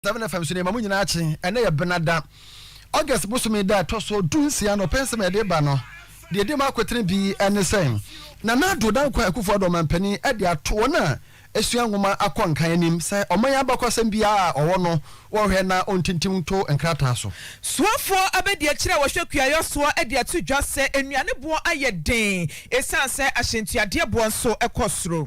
Seven FM so nneɛma mu nyinaa kye. Ɛnɛ yɛ Benada, August bosome da a ɛtɔ so du nsia no. Ɔpɛ nsɛm a yɛde ba no, deɛ ɛdi mu akotene bi ne sɛ, Nana Addo Dankwa Akufo-Addo Ɔmanpanin de ato wɔn a asua nwoma akɔ nkan anim sɛ ɔman abakɔsɛm biara a ɔwɔ no, wɔnhwɛ na ɔntintim nto nkrataa so. Soafoɔ abadiakyire a wɔhwɛ kuayɔ soɔ de ato dwa sɛ nnuane boɔ ayɛ den ɛsiane sɛ ahyɛntuadeɛ boɔ nso kɔ soro.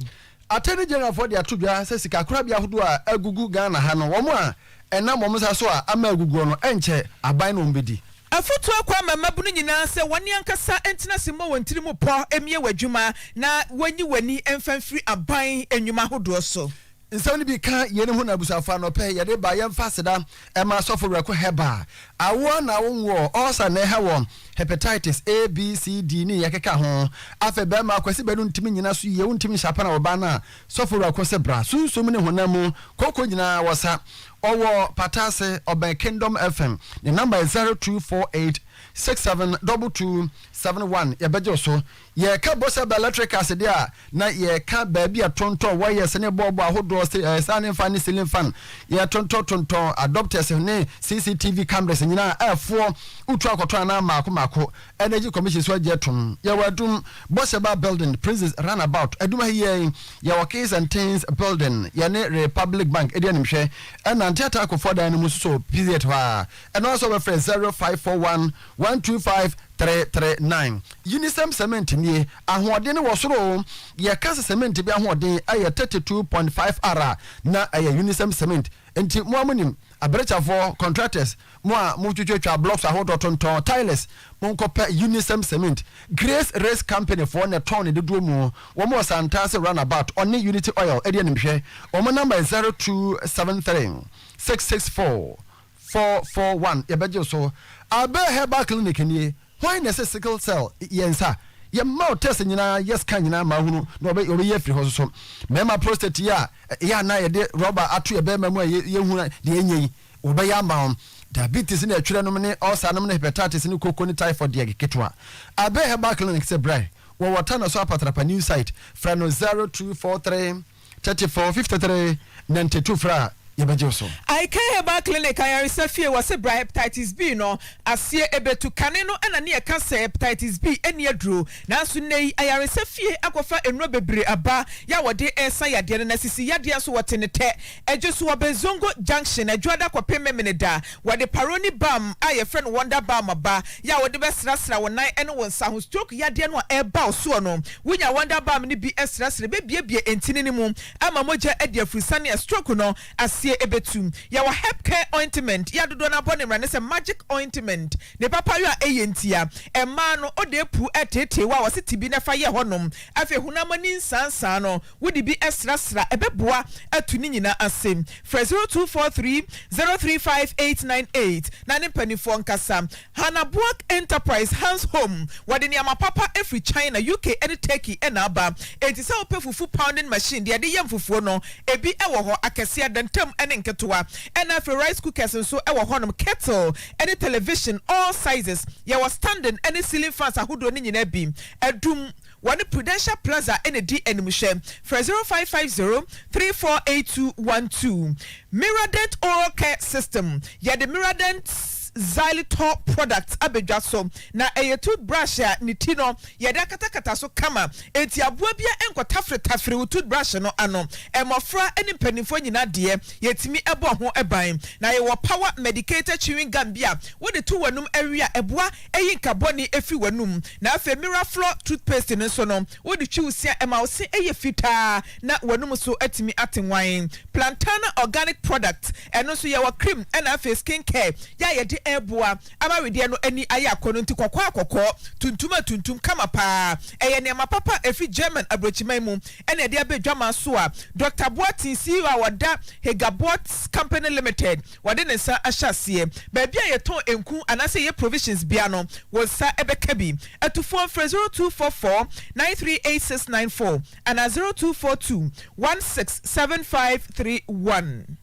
Attorney General foɔ de ato dwa sɛ sika korabea ahodoɔ a agugu Ghana ha no wɔn a ɛnam wɔn nsa so a ama aguguɔ no ɛnkyɛ aban na wɔn bɛdi. Afotuo kɔ ama mmabunu nyinaa sɛ wɔne ankasa ntena ase mmɔ wɔn tiri mu pɔ mmie w'adwuma na wɔnyi w'ani mfa mfiri aban nnwuma ahodoɔ so. Nsɛm no bi ka yeinom ho na abusuafoɔ anɔpɛ yɛde ba yɛmfa aseda Ɛma sɔfo werɛko Herbal awo a na awo nwo ulcer na ɛha wɔn Hepatitis A, B, C, D ne yɛ keka ho Afei bɛɛma Kwasi bɛ no ntimi nyina so yie wontimi nhyɛ apana wɔ baa no a Sɔfo werɛko se bra sunsum ne honam mu koko nyinaa wɔ sa Ɔwɔ pata ase ɔbɛn Kingdom FM ne number yɛ 0248 67 22 71 yɛbɛgye wo so Yɛreka Bɔsɛ Bɛlɛtrikals deɛ a, na yɛreka baabi a tontɔn wɔyɛs ne bɔɔbo ahodoɔ saane fan ne silin fan yɛ tontɔn tontɔn adɔptɛs ne CCTV kamrɛs nyinaa a ɛfoɔ wotu akɔtɔn anaa mmaako mmaako Ɛnɛgyi Kɔmihyin nso agye atom. Yɛwɔ Adum, Bɔsɛ Bar Bilding, Prinsis Ranabaot, Adum ha yi ara yi, yɛwɔ Keys and Tins Bilding, yɛne Repablik Bank di animhwɛ, ɛna Nteataa Kofoɔ dan no mu nso so PZ hɔ ara, ɛno ara nso wobɛfrɛ zero five four one. One two five three three nine Yi ne sɛm sɛmɛnte nie, ahoɔden no wɔ soro o. Yɛka sɛ sɛmɛnte bi ahoɔden yɛ thirty two point five R a, na ɛyɛ Unisem cement. Enti mo a monim, abrɛkyɛfoɔ, contractors, mo a motwitwatwa blocks ahodoɔ tontɔn, tilers, monkɔpɛ Unisem cement. Grace Race Company foɔ na ɛtɔn ne dodoɔ mu. Wɔn wɔ Santase Run About, ɔne Unity Oil di animhwɛ. Wɔn number yɛ zero two seven three six six four Four four one yɛbɛgye wo so. Albert Herbal Clinic nie, hwan na ɛsɛ sickle cell yɛ nsa? Yɛma wo test nyinaa, yɛ scan nyinaa ma ahunu na wɔbɛ wɔbɛyi afiri hɔ soso. Mmarima prostate yi a ɛyɛ a na yɛde rɔba ato yɛn barima mu a yɛ yɛhu deɛ ɛnyɛ yi, wɔbɛyɛ ama wo. Diabetes ne ɛtwerɛ nom ne ulcer nom ne hepatitis ne koko ne typhoid deɛ yɛ ketewa. Albert Herbal Clinic sɛ brɛ, wɔwɔ Tana so Apatrapa new site, frɛ no zero two four three. Thirty four, fifty three, ninety two frɛ a yɛbɛgye wo so. Icare Herbal Clinic Ayaresa Fie Wɔse bra Hepatitis B no aseɛ ɛbɛtu Kane no na ne yɛka sɛ Hepatitis B nni aduro Nanso nnɛ yi ayaresa fie akɔfa nnuro bebree aba yɛ a wɔde resa yadeɛ no Na sisi yadeɛ nso wɔte ne tɛ Ɛgye so wɔ Bezongo Junction Adwoada kɔpem Memeneda Wɔde Paroni balm a yɛfrɛ no Wonder Balm ba, yɛ a wode bɛsrasra wo nan ne wo nsa ho. Stroke yadeɛ no a ɛreba wo soɔ no, wonya Wonder Balm no bi srasra, ɛbɛbuebue ntini no mu ama mogya adi afurusane a stroke no aseɛ ɛbɛtu. Yɛwɔ Herb Care Ointment, yɛ a dodoɔ no ara bɔ ne mmara ne sɛ Magic Ointment, ne papayɔ a ɛyɛ ntia. Mmaa no, ɔde apuu ɛreteetee wo a wɔse tibi na fa yɛ hɔ nom. Afei honam ani nsaansaa no, wode bi srasra ɛbɛboa atu ne nyinaa ase. Frɛ zero two four three zero three five eight nine eight na ne mpanimfoɔ nkasa. Hannah Boak Enterprise, Hans Home, Wɔde nneɛma papa firi China, UK ne Turkey na aba. Enti sɛ wopɛ fufu pounding machine, deɛ ɛde yɛ mfufuo no, ebi wɔ hɔ, akɛseɛ, adantam ne nketewa. Ɛnna afei rice cookers nso wɔ hɔnom, kettle ne television, all sizes. Yɛwɔ standing ne ceiling fans ahodoɔ no nyinaa bi. Adum. Wɔne Prudential Plaza na edi animhwɛ. Frɛ zero five five zero three four eight two one two. Miradent Oral Care System, Yɛde Miradent Xylitol product aba dwa so, na ɛyɛ toothbrush a ne ti no yɛde akatakata so kama, enti aboa biara nkɔtaferetafere wo toothbrush no ano. Mmofra ne mpanimfoɔ nyinaa deɛ, yɛtumi bɔ ho ban. Na yɛwɔ Power Medicated Chewing Gum bi a wode to w'anom we a, ɛboa yi nkabɔne fi w'anom. Na afei Miraflor toothpaste no nso no, wode twi wo se a, ɛma wo se yɛ fitaa na w'anom nso atumi ate nwann. Plantana organic products, ɛno nso yɛwɔ cream na afei skin care yɛ a yɛde ɛreboa ama wedeɛ no ani ayɛ akɔnnɔ nti kɔkɔɔ a kɔkɔɔ, tuntum a tuntum kama paa. Ɛyɛ nneɛma papa a ɛfiri German aburokyiman mu na yɛde aba adwaman so a Dɔkta Boateng, CEO a ɔda Hegaboat Company Limited, wɔde ne nsa ahyɛ aseɛ. Baabi a yɛtɔn nku anaasɛ yɛyɛ provisions biara no, wo nsa bɛka bi. Atufoɔ mfrɛ zero two four four nine three eight six nine four anaa zero two four two one six seven five three one.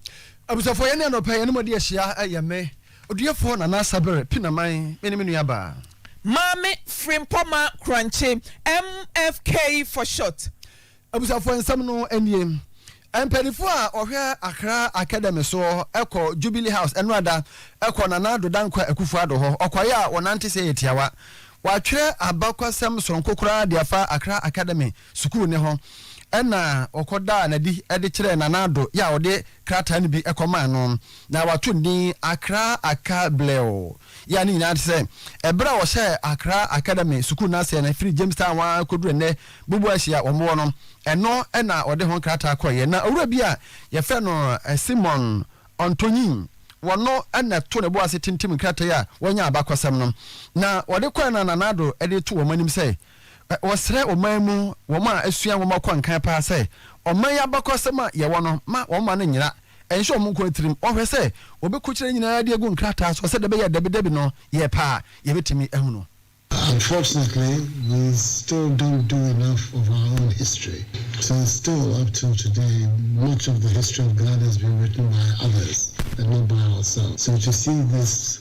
Abusuafoɔ yɛne anɔpa yɛne mo adi ahyia yɛ me, Ɔduafoɔ Nana Asabere Pinaman me ne me nua baa. Maame Frimpɔmaa Korankye, MFK for short. Abusuafoɔ, nsɛm no nie, Mpaninfoɔ a wɔhwɛ Accra Academy soɔ kɔ Jubilee House ɛnora da kɔ Nana Addo Dankwa Akuffo Addo hɔ. Ɔkwaeɛ a wɔnante sɛ yɛ tiawa. Wɔatwerɛ abakwasɛm soronko koraa de afa Accra Academy sukuu no ho. Ɛna wɔkɔdaa no adi de kyerɛɛ Nana Addo yɛ a ɔde krataa no bi kɔmaa no. Na wɔato no din Accra Aka Blew. Yɛ a ne nyinaa ne sɛ, ɛberɛ a wɔhyɛɛ Accra Academy sukuu no aseɛ no, ɛfiri Jamestown ara kɔduru ɛnnɛ Boboashi a wɔwɔ no, ɛno na wɔde ho nkrataa kɔeɛ. Na owura bi a wɔfrɛ no Simon Ɔntɔnyin, wɔno na ɛto ne bo ase tintim nkrataa yi a wɔnya abakɔsɛm no. Na wɔde kɔeɛ no na Nana Addo de to wɔn anim sɛ, wɔsrɛ ɔman mu wɔn a asua nwoma kɔ nkan paa sɛ, ɔman yi abakɔsɛm a yɛwɔ no, ma wɔmma no nyera. Ɛnhyɛ wɔn nkoa tirim. Wɔhwɛ sɛ wɔbɛkɔkyerɛ nyinaa de agu nkrataa so sɛdeɛ ɛbɛyɛ a dabidabi no yɛ pɛ a yɛbɛtumi ahu no. Unfortunately, we still don't do enough of our own history, since still up till today much of the history of Ghana has been written by others and not by ourselves. So to see this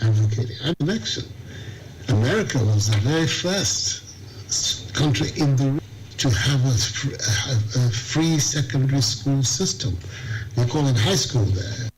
Advocating at election, America was the very first country in the world to have a a free secondary school system, they call it high school there.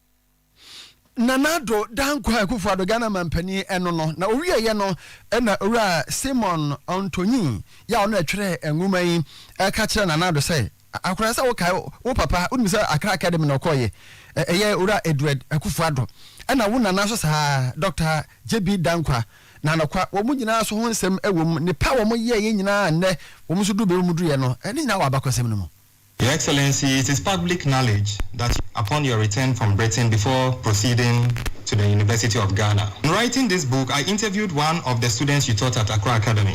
Nana Addo Dankwa Akufo-Addo, Ghana manpanin ɛno no. Na ɔwieeɛ no na Owura Simon Ɔntɔnyi, yɛ a ɔno na ɛtwerɛɛ nwoma yi, ɛka kyerɛɛ Nana Addo sɛ, Akora sɛ wokae wo papa, wonim sɛ Accra Academy na ɔkɔɔeɛ, ɛyɛ Owura Edward Akuffo Addo, ɛna wo nana nso saa ara, Doctor JB Danquah, Nanokwa, wɔn nyinaa so ho nsɛm wɔ mu, nepa a wɔn yɛeɛ nyinaa a nnɛ wɔn nso duru baabi a wɔn duruiɛ no, ne nyinaa wɔ abakɔsɛm no mu. Your Excellency, it is public knowledge that upon your return from Britain before proceeding to the University of Ghana, in writing this book I interviewed one of the students you taught at Accra Academy.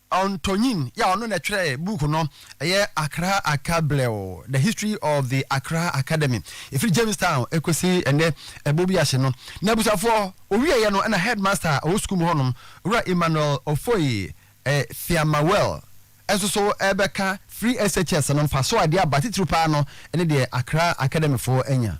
Ɔntɔnyin yi a ɔno na ɛtwerɛɛ book no, ɛyɛ Accra Akablɛw, The History of the Accra Academy, ɛfiri Jamestown ɛkɔsi ɛnnɛ ɛbɔ bi ase no. Na abusuafoɔ, ɔwieeɛ no ɛna Headmaster a ɔwɔ sukuu mu hɔnom, Owura Emmanuel Offoey Thiamawell nso so rebɛka firi SHS no mfasoɔ a ɛde aba, titiriw pa ara no ɛne deɛ Accra Academyfoɔ anya.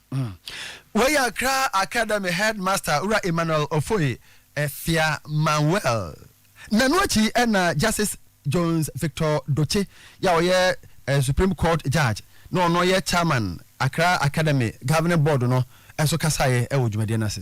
Wei yɛ Accra Academy Headmaster Wura Emmanuel Offoe Fia Manuel. Na ɛno akyi na Justice Jones Victor Dotse yi a ɔyɛ Supreme Court Judge na ɔno yɛ Chairman Accra Academy Governing Board no nso kasaeɛ wɔ dwumadie no ase.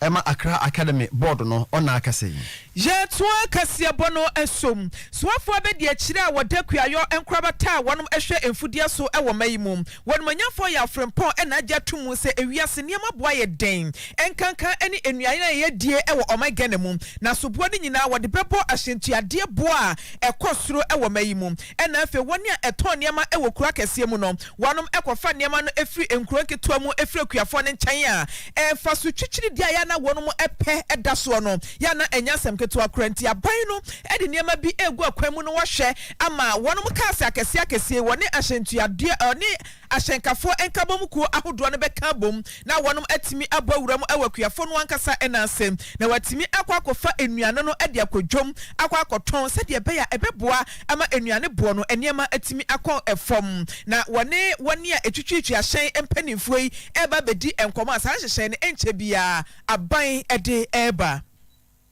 Ɛma Accra Academy Board no ɔnaa kɛse. Yɛtoa kaseɛbɔ no so. Soafoɔ abɛdi akyire a wɔda kuayɔ nkorabata a wɔnom hwɛ mfudeɛ so wɔ ma yi mu. Wɔnom anyamfoɔ yɛ afrempɔn na agye ato mu sɛ ewiase nneɛma boa yɛ dɛn nkanka ne nnuane a yɛdie wɔ ɔman Ghana mu. Na soboɔ no nyinaa wɔde bɛbɔ ahyɛntuadeɛ boɔ a ɛkɔ soro wɔ ma yi mu. Ɛna afei wɔn a ɛtɔn nneɛma wɔ kuro akɛseɛ mu no, wɔnom kɔfa nneɛma no firi nkuro nketewa mu firi akuafoɔ no nkyɛn a, ɛmfa so twikyiri deɛ a yɛ a na wɔnom pɛ da soɔ no, yɛ a na ɛnyɛ asɛm ketewa koraa. Nti aban no de nneɛma bi regu akwan mu no wɔhwɛ ama wɔnom cars akɛseɛ akɛseɛ yi, wɔne ahyɛntuadeɛ, wɔne. Ahyɛnkafoɔ nkabom kuo ahodoɔ no bɛka abom na wɔnom atumi abɔ awura mu wɔ akuafoɔ no ankasa nan ase na wɔatumi akɔ akɔfa nnuane no de akɔ dwom akɔ akɔtɔn sɛdeɛ ɛbɛyɛ a ɛbɛboa ama nnuane boɔ no nneɛma atumi akɔ fam na wɔne wɔn a ɛtwitwiitwi ahyɛn mpaninfoɔ yi reba abɛdi nkɔmmɔ a saa nhyehyɛe no ɛnkyɛ biara aban de reba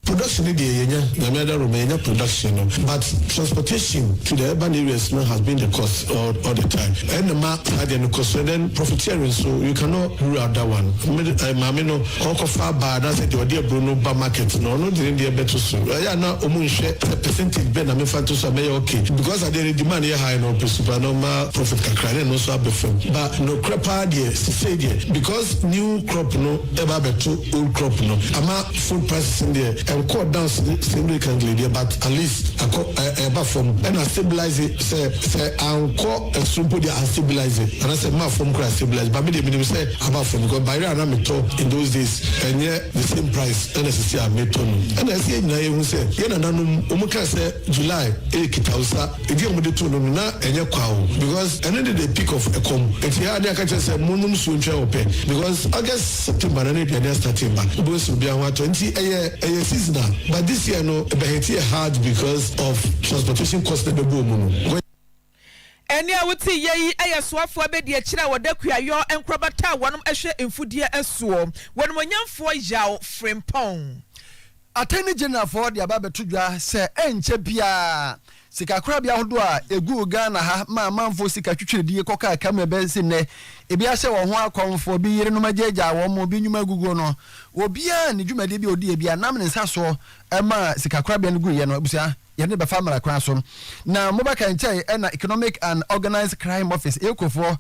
Production no deɛ yɛnya, Nyame adawroma yɛnya production no but transportation to the urban areas no has been the cost all all the time ɛno na ɛma saa deɛ no kɔ so and then profiteering nso you cannot rule out that one. Me maame no ɔkɔfa aba anaasɛ deɛ ɔde aburo no ba market no ɔno de ne deɛ bɛto so ɛyɛ a na wɔn nhwɛ sɛ percentage bɛn na memfa nto so a mɛyɛ okay because adeɛ no demand yɛ high na ɔpɛ su paa na ɔma profit kakra na ɛno nso aba fam ba nokorɛ paa deɛ sisei deɛ because new crop no ɛba abɛto old crop no ama Food prices no deɛ ɛnkɔɔ down sɛ sɛ Americangle deɛ but at least akɔ ɛ ɛɛba fam ɛna astabilise sɛ sɛ ankɔ ɛsoro mpo deɛ astabilise anaasɛ mmaa fam koraa astabilise but me deɛ menim sɛ aba fam because bayerɛ a na metɔ in those days ɛnyɛ the same price ɛna sisi a metɔ no ɛna ɛsɛ yɛn nyinaa yɛhu sɛ yɛn nananom wɔn kaa sɛ July ɛyɛ kitawusa Ebi a wɔde too no no na ɛnyɛ kwa o because ɛno de the peak of ɛkɔm nti ɛyɛ a ne yɛaka kyerɛ sɛ mo nom nsuo ntwɛn wo pɛ because August September na ne aduane astate ba wobɛhu sɛ obiara ho atɔ nti ɛyɛ ɛyɛ seasonal but this year no ɛbɛ hit yɛ hard because of transportation cost na ɛbɛbɔɔ mu no. Ɛnne a wote yɛ yi yɛ soafoɔ abɛdiakyire a wɔda kuayɔ nkorabata a wɔnom hwɛ mfudeɛ soɔ. Wɔnimonyamfoɔ Yaw Frimpong. Attorney Generalfoɔ de aba abɛto dwa sɛ ɛnkyɛ biara sikakorabea ahodoɔ a ɛguu Ghana ha maa amanfoɔ sika twitwiridie kɔkaa ka mu ɛbɛsi nnɛ, ebi ahyɛ wɔn ho akɔmfoɔ, bi yerenom agyaagyaa wɔn, bi nnwuma aguguo no, obiara ne dwumadie bi a ɔdiiɛ bi a nam ne nsa soɔ maa sikakorabea no guiɛ no, abusua. Yɛde no bɛfa mmara kwan so. Na mobɛka nkyɛ yɛ ɛna Economic and Organised Crime Office, EOCO, foɔ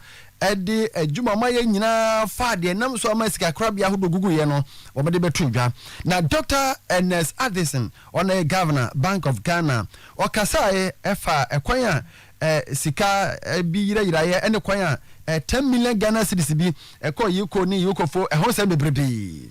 de adwuma a wɔayɛ nyinaa faa deɛ ɛnam so ama sikakorabea ahodoɔ guguiɛ no, wɔde bɛto dwa. Na Doctor Ernest Addison, ɔno yɛ Governor, Bank of Ghana, ɔkasaeɛ faa ɛkwan a sika bi yerayeraeɛ ne kwan a ten million Ghana cedis bi kɔɔ EOCO ne EOCO foɔ ɛho nsɛm bebrebe.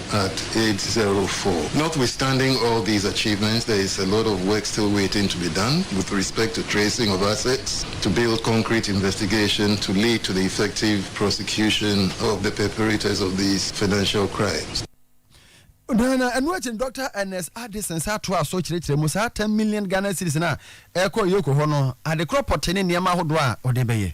at age zero four. Notwithstanding all these achievements, there is a lot of work still waiting to be done with respect to tracing of assets, to build concrete investigation to lead to the effective prosecution of the perpetrators of these financial crimes. na na ɛno akyi no dɔkta ernest addison nsa toa so kyerɛkyerɛ mu saa ten million ghana series no a ɛkɔ yoko hɔ no adekorɔ pɔtee ne nneɛma ahodoɔ a ɔde bɛyɛ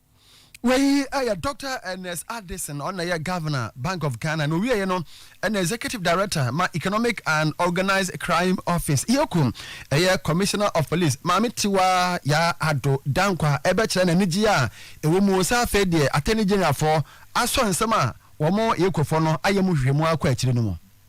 Wei yɛ Dɔkta Ernest Addison, ɔno na ɛyɛ Governor Bank of Ghana na owieɛ no ɛna Executive Director ma Economic and Organised Crime Office, EOCO, ɛyɛ Commissioner of Police Maame Tiwa Yaa Addo Dankwa ɛbɛkyerɛ n'anigyeɛ a ɛwɔ mu sɛ afei deɛ Attorney Generalfoɔ asɔ nsɛm a wɔn, EOCOfoɔ no, ayɛ mu nhwehwɛmu akɔ akyire no mu.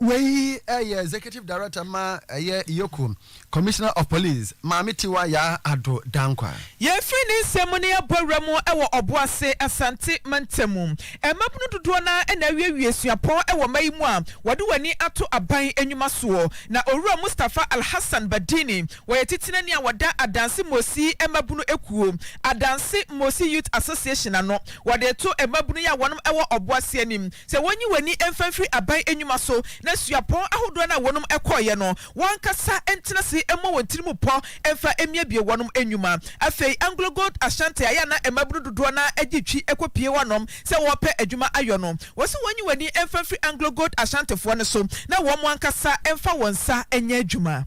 Wei yɛ Executive Director ma ɛyɛ Iyoko Commissioner of Police, Maame Tiwa Yaa Addo Dankwa. Yɛfiri ne nsɛm mu no yɛabɔ awura mu wɔ Ɔboase, Asante mantam. Mmabunu dodoɔ no ara na awiewie suapɔn wɔ mma yi mu a wɔde wɔn ani ato aban nnwuma soɔ. Na Owura Mustapha Alhassan Badini, wɔyɛ titenani a wɔda Adanse Mmosi Mmabunu Ekuo, Adanse Mmosi Youth Association, ano. Wɔde reto mmabunu yi a wɔnom wɔ Ɔboase anim Sɛ wonyi w'ani mfa mfiri aban nnwuma so na suapɔn ahodoɔ no a wɔnom kɔeɛ no w'ankasa ntena ase mmɔ wɔn tiri mu pɔ mfa mmiabie wɔnom nnwuma. Afei Anglo Gold Ashanti a yɛ a na mmabunu dodoɔ no ara gye twi kɔ pie hɔnom sɛ wɔrepɛ adwuma ayɔ no, wɔse wɔnyi w'ani mfa mfiri Anglo Gold Ashantifoɔ no so na wɔnom ankasa mfa wɔn nsa nyɛ adwuma.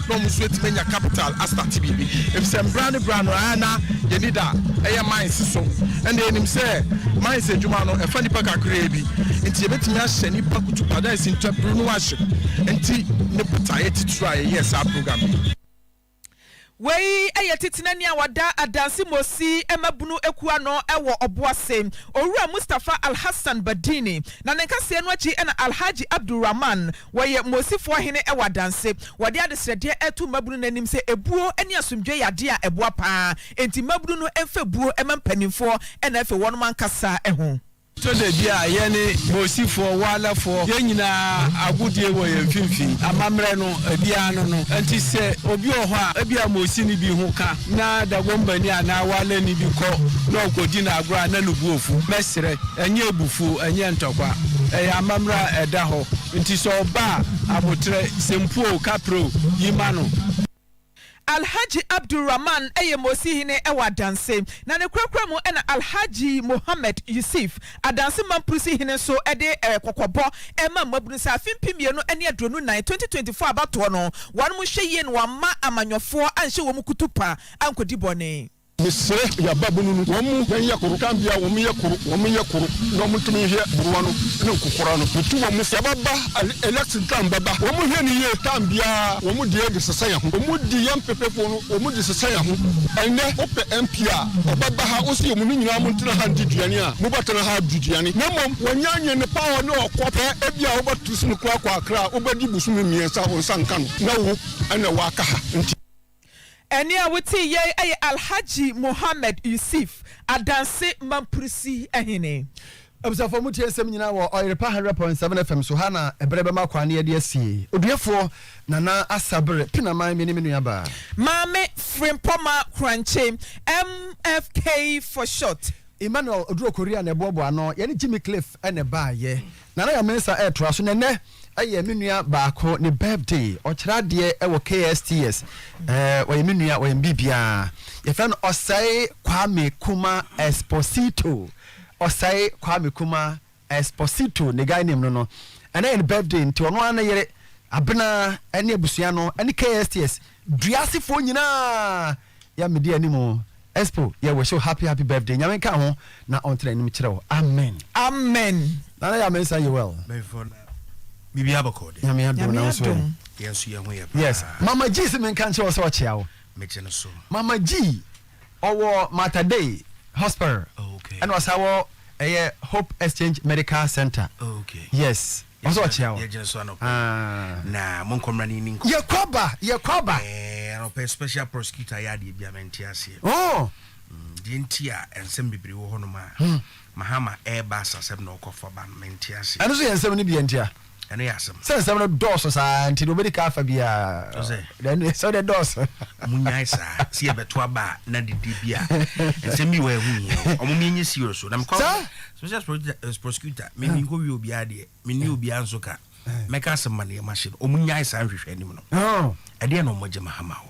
na ɔmo nso atumi anya capital astate biribi efisɛ mbra ne bra no ɛɛ na yɛni da ɛyɛ mines so ɛna yɛnim sɛ mines adwuma no ɛfa nipa kakraa bi nti yɛbɛtumi ahyɛ nipa kutu pa dɛ ɛsi ntwaburu no ahye nti ne botaeɛ titiri a yɛyɛ saa program yi. Wei yɛ Titenani a ɔda Adansi Mosi mmabunu akuo ano wɔ Ɔboase, Owura Mustapha Alhassan Badini, na ne nkaseɛ no akyi na Alhaji Abdul Rahman, Wɔyɛ Mosifoɔ hene wɔ adanse. Wɔde adesrɛdeɛ reto mmabunu no anim sɛ ebuo ne asomdwoeɛ yɛ adeɛ a ɛboa pa ara enti mmabunu no mfa ebuo mma mpanimfoɔ na afei wɔnom ankasa ho. Tɔ da bi a yɛne Mosifoɔ, Walafoɔ, yɛn nyinaa agodie wɔ yɛn mfimfini. Amammerɛ no, ebiara ano no. Enti sɛ obi wɔ hɔ a ebia Mosi no bi ho ka, Nna Dagombanyi a n'awalɛnyi bi kɔ na ɔkɔdzi no agor a nna no bo efuw. Mɛserɛ, nnyɛ ebufuw, nnyɛ ntɔkwa. Ɛyɛ amambra a ɛda hɔ. Ntsi sɛ ɔba a, aboterɛ, sempu o, kaprɛ o, yi ma no. Alhaji Abdul Rahman yɛ Mosi hene wɔ Adanse, na ne korakora mu na Alhaji Mohammed Yusuf Adansi Mamprisi hene nso de kɔkɔbɔ ma mmabunu sɛ afe mpem mmienu ne aduonu nnan, twenty twenty four, abatoɔ no, wɔnom nhwɛ yie na wɔamma amanyɔfoɔ anhyɛ wɔn kutupa ankɔdi bɔne. Mesrɛ yɛn ababunu no, wɔn mu yɛn yɛ koro, kan biara wɔn yɛ koro, wɔn yɛ koro na wɔn ntumi nhwɛ buruwa no ne nkokora no. Metu wɔn sɛ wɔbɛba election time bɛba, wɔn nhwɛ no yie, time biara wɔn deɛ de sesa yɛn ho, wɔn di yɛn mpepefoɔ no. Wɔn de sesa yɛn ho. Ɛnnɛ, wopɛ MP a, ɔbɛba ha, wose yɛ mo no nyinaa montena ha ndi duane a, mobɛtena ha adi duane. Na mmom wɔnyɛ anwene ne pa hɔ ne ɔkɔ pɛ. Ebia wobɛto sini koraa akɔ Accra a, wobɛdi bosome mmiɛnsa a wo nsa nka no, na wo na woaka ha nti. Ɛnne a wotee yei yɛ Alhaji Mohammed Yusuf, Adanse Mamprusi hene. Abusuafoɔ motie nsɛm nyinaa wɔ Ɔyerepa 100.7 FM so, ha na ɛberɛ bɛma kwan ne yɛde asie. Oduafoɔ, Nana Asabere Pinaman me ne me nua baa. Maame Frimpɔmaa Korankye, MFK for short. Emmanuel Oduro Korea na ɛboaboa ano, yɛne Jimmy Cliff na ɛbaeɛ. Nana Yaw Mensah retoa so, na ɛnnɛ yɛ me nua baako ne birthday, ɔkyerɛ adeɛ wɔ KSTS, ɛɛ ɔyɛ me nua, ɔyɛ me biribiara. Yɛfrɛ no Osei Kwame Kumah Esposito. Osei Kwame Kumah Exposito ne guy name no no ɛnɛ yɛ ne birthday nti ɔno ara ne yere Abena ɛne abusua no ɛne KSTS dua asefoɔ nyinaa yɛ mede anim Expo yɛ wish you happy happy birthday nyame nka ho na ɔntena anim kyerɛ wo amen Amen. Nana yɛ amensa yɛ well Bɛnfo na biribi abɔkɔ de. nyame adom Nyame na wo nso adom. ɛ Yɛn nso yɛn ho yɛ paa. yes mama G se menka nkyerɛ wo sɛ ɔkyea wo Megye no so. mama G. Ɔwɔ Mater Dei Hospital ɛna ɔsan wɔ ɛyɛ Hope Exchange Medical Center. Yes. Ɔsɛ ɔkyea wɔ. Yɛgyina so anɔpɛ. Ah. Na mo nkɔmra ni ni nkɔ. Yɛ kɔ ba, yɛ kɔ ba. Eh, anɔpɛ special prosecutor yɛ adeɛ bi a mente aseɛ. Oh. Deɛ nti a nsɛm bebree wɔ hɔ nom a Mahama ɛreba asasɛm na ɔkɔ fa ba no mente aseɛ. Ɛno nso yɛ nsɛm no bi a nti a. ɛno yɛ asɛm. sɛ nsɛm no dɔɔso saa nti na obedi kan afa bi a ɛnu yɛ sɛ ɔde dɔɔso. mo nyae saa si ɛbɛto aba a na dede bi a nsɛm bi wɔ ɛho hia o ɔmo mi nye serious o na mekɔ special eh, prosecutor mi mi nkɔ wie obiara deɛ mi ni obiara nso ka mɛka asɛm ma ne yɛ ma hyɛ no ɔmo nyae saa nhwehwɛ anim no ɛdeɛ na ɔmo gye ma hama o.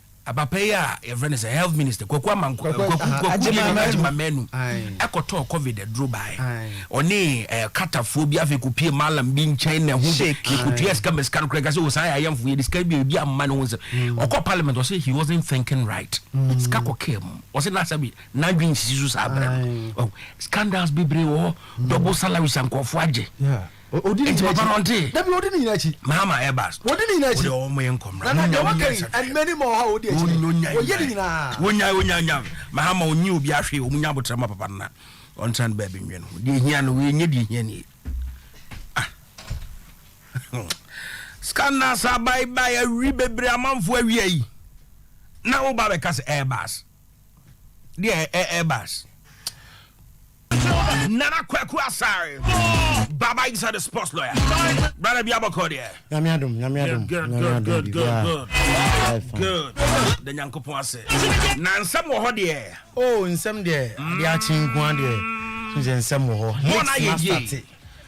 Abapa yi a yɛfrɛ no sɛ health minister Kwaku Amanko Kwaku Kwaku Manu Agyema Manu ɛkɔtɔɔ covid aduro bae ɔne ɛɛ katafoɔ bi afei kò pie malam bi nkyɛn na ɛho de yɛkɔtua sika ma sika no kora ɛkasɛ osan yɛ ayɛnfo yɛ de sika bi ebi amma ne ho nsɛm mm. ɔkɔ parliament ɔsɛ he wasn't thinking right mm. sika kɔ kaa mu ɔsɛ n'asɛ bi n'adwi nsisi so saa abirɛ no oh, scandals bebree wɔ hɔ mm. double salaries ankɔfoɔ agye Odi ne nyinaa akyi. Dabi odi ne nyinaa akyi. Mahama Airbus. Odi ne nyinaa akyi. Odi ɔwɔ mo yɛ nkɔm. Nana deɛ waka yi ɛnmɛni ma ɔha odi akyi. Ɔyɛ ne nyinaa. Wonya wonya nya. Mahama onyi obi ahwe omu nya abotra ma papa nana. Ɔntran baabi nwe no. Deɛ hia no wei nye deɛ hia nie. Ah. Scandals abai bai awi bebree amanfo awi ayi. Na wo ba bɛka sɛ Airbus. deɛ ɛbas nana kwaku asare baba inside the sports lawyer brother bi abɔkɔ deɛ nyame adom nyame adom nyame adom biribiaa good da nyankopɔn ase na nsɛm wɔ hɔ deɛ o oh, nsɛm deɛ adeɛ akye nkoa deɛ sɛ nsɛm wɔ hɔ hits mastate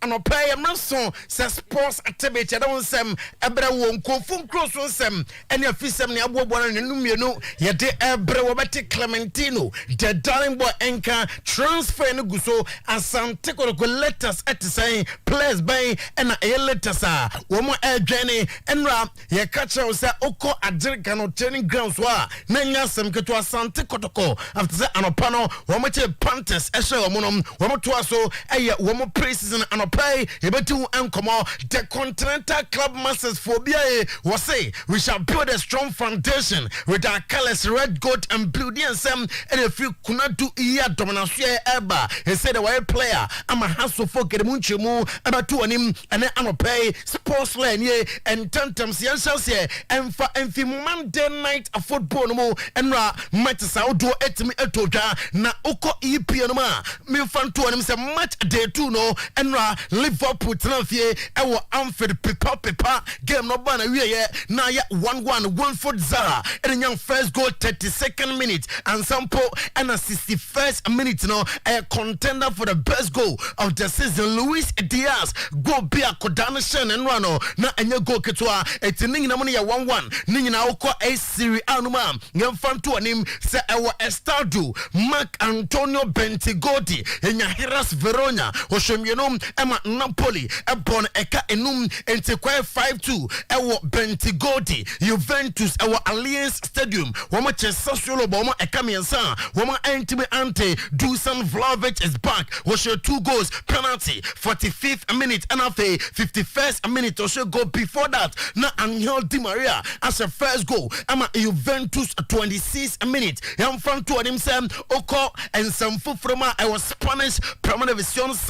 Anɔpa yi mmere so sɛ sports activity ɛde wo nsɛm ɛbrɛ wɔ nkurɔfoɔ nkuro so nsɛm ɛne afisɛm ne aboaboa no ne no mmienu yɛde ɛbrɛ wɔbɛte Clementino the darling boy nka transfer no gu so Asante Kotoko latest ɛte sɛn players bɛn ɛna ɛyɛ latest a wɔn ɛredwɛn ne ɛnura Yɛka kyerɛ wo sɛ wokɔ Agyer Gano Training Grounds hɔ a, na ɛnyɛ asɛm ketewa. Asante Kotoko, after sɛ anɔpa no wɔkyee Panthers hyɛɛ wɔn no, wɔtoaa so yɛ wɔn pre-season. Anɔpa yi, yɛbɛdi ho nkɔmmɔ. The Continental Club Masters foɔ bi ae, wɔse, We shall build a strong foundation with our colours, red, gold and blue. Deɛ nsɛm na ɛfiri Kunadu yi a Domanasoɛ reba. Ɛsei deɛ wɔayɛ player ama Hearts of Oak, yɛde mu nkyerɛmu bɛto w'anim ɛnnɛ anɔpa yi. Sports Law nie, Ntɛmntɛm seɛ nhyɛnseɛ ɛmfa mfi mu Monday night football no mu Nnora matches ahodoɔ atumi atɔ dwa Na wokɔ EPL no mu a, memfa nto w'anim sɛ match day two no Nnora Liverpool tenaa fie wɔ Anfield pepa pepa game no baa n'awieɛ na ayɛ one one Wilfried Zaha na nya first goal thirty second minute ansa mpo na sixty first minute no ɛyɛ contender for the best goal of the season Luis Diaz Goal bi a Koda no hyɛɛ no nnora no, na ɛnyɛ goal ketewa. Enti ne nyinam no yɛ one one. Ne nyinaa wokɔ A Serie A no mu a, yɛmfa nto w'anim sɛ ɛwɔ Estádio Marc Antonio Bentegodi, yɛnya Hellas Verona ɔhyɛ mmienu ma Napoli bɔ no ɛka nnum, enti kɔɛ five two wɔ Bentegodi, Juventus wɔ Allianz. Stadium, wɔkyee Sassuolo bɔ wɔn ɛka mmiɛnsa a wɔantumi ante. Dusan Vlahovic is back, ɔhyɛɛ two goals, penalty, forty fifth minute ɛna afei fifty first minute ɔhyɛ goal, before that na Angel Di Maria ahyɛ first goal ɛma Juventus twenty six minute. Yɛmfa nto anim sɛ wokɔ nsɛm foforɔ mu a ɛwɔ Spanish Primera División,